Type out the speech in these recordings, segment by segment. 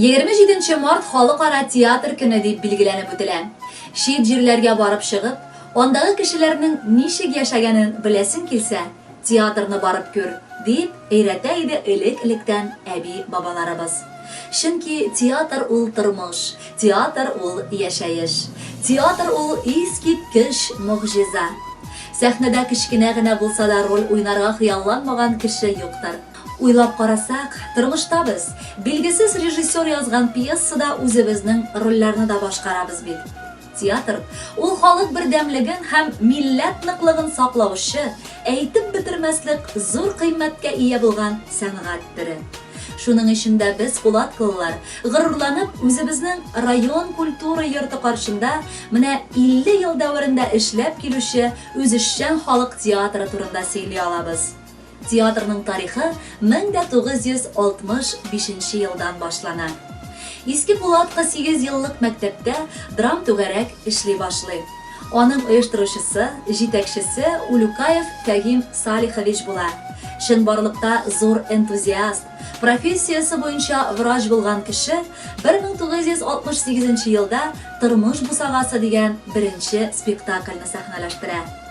Егерме җиденче март халыкара театр көне дип билгеләнеп үтелә. Чит җирләргә барып чыгып, андагы кешеләрнең ничек яшәгәнен беләсең килсә, Театрны барып күр, дип өйрәтә иде элек-электән әби-бабаларыбыз. Чөнки театр ул тормыш, театр ул яшәеш. Театр ул искиткеч могҗиза. Сәхнәдә кечкенә генә булса да роль уйнарга хыялланмаган кеше юктыр. Уйлап карасак, тормышта без, билгесез режиссер язган пьесада үзебезнең рольләрне дә башкарабыз бит. Театр, ул халык бердәмлеген һәм милләт ныклыгын саклаучы, әйтеп бетермәслек зур кыйммәткә ия булган сәнгать төре. Шуның өчен дә без, кулаткалылар, горурланып, үзебезнең район культура йорты каршында менә 50 ел дәверендә эшләп килүче үзешчән халык театры турында сөйли алабыз. Театрның тарихы 1965 нче елдан башлана. Иске Пулатка сигез еллык мәктәптә драмтүгәрәк эшли башлый. Аның оештыручысы, җитәкчесе Улюкаев Фәгим Салихович була. Чынбарлыкта зур энтузиаст, профессиясе буенча врач булган кеше 1968 нче елда Тормыш бусагасы дигән беренче спектакльне сәхнәләштерә.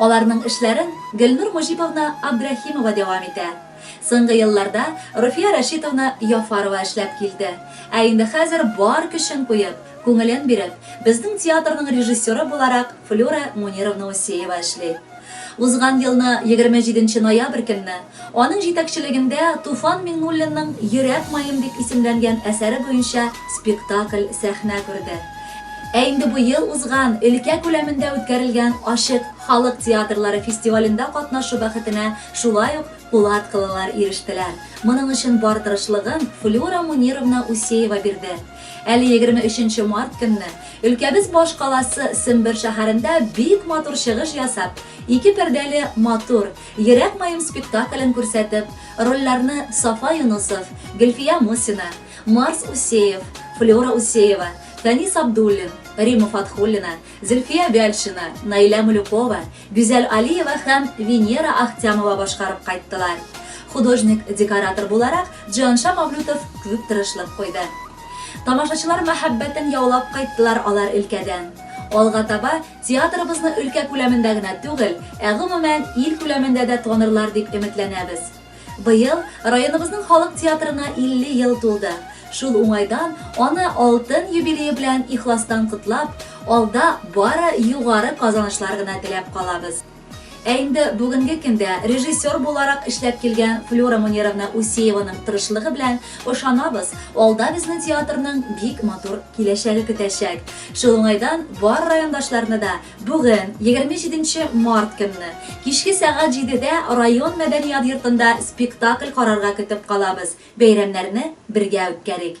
Аларның эшләрен Гөлнур Мөҗиповна Абдрәхимова дәвам итә. Соңгы елларда Руфия Рәшитовна Яфарова эшләп килде. Ә инде хәзер бар көчен куеп, күңелен биреп, безнең театрның режиссеры буларак Флюра Мунировна Усеева эшли. Узган елны егерме җиденче ноябрь көнне Аның җитәкчелегендә Туфан Миңнуллинның Йөрәк маем дип исемләнгән әсәре буенча спектакль сәхнә күрде. Ә инде бу ел узган өлкә күләмендә үткәрелгән Ачык халык театрлары фестивалендә катнашу бәхетенә шулай ук пулаткалылар ирештеләр. Моның өчен бар тырышлыгын Флюра Мунировна Усеева бирде. Әле егерме өченче март көнне өлкәбез башкаласы Сембер шәһәрендә бик матур чыгыш ясап, ике пәрдәле матур, Йөрәк маем спектаклен күрсәтеп, рольләрне Сафа Юнысов, Гөлфия Мусина, Марс Усеев, Флера Усеева, Фәнис Абдуллин, Рима Фатхуллина, Зөлфия Вяльшина, Наилә Мулюкова, Гүзәл Алиева һәм Венера Ахтямова башкарып кайттылар. Художник-декоратор буларак Җианша Мавлютов күп тырышлык куйды. Тамашачылар мәхәббәтен яулап кайттылар алар өлкәдән. Алга таба Театрыбызны өлкә күләмендә генә түгел, ә гомумән, ил күләмендә дә танырлар дип өметләнәбез. Быел районыбызның халык театрына 50 ел тулды. Шул уңайдан аны алтын юбилее белән ихластан котлап, алда бары югары казанышлар гына теләп калабыз. Ә инде бүгенге көндә режиссер буларак эшләп килгән Флюра Мунировна Усееваның тырышлыгы белән, ышанабыз, алда безне театрның бик матур киләчәге көтәчәк. Шул уңайдан бар райондашларны да бүген, 27 нче март көнне, кичке сәгать җидедә район мәдәният йортында спектакль карарга көтеп калабыз, бәйрәмнәрне бергә үткәрик!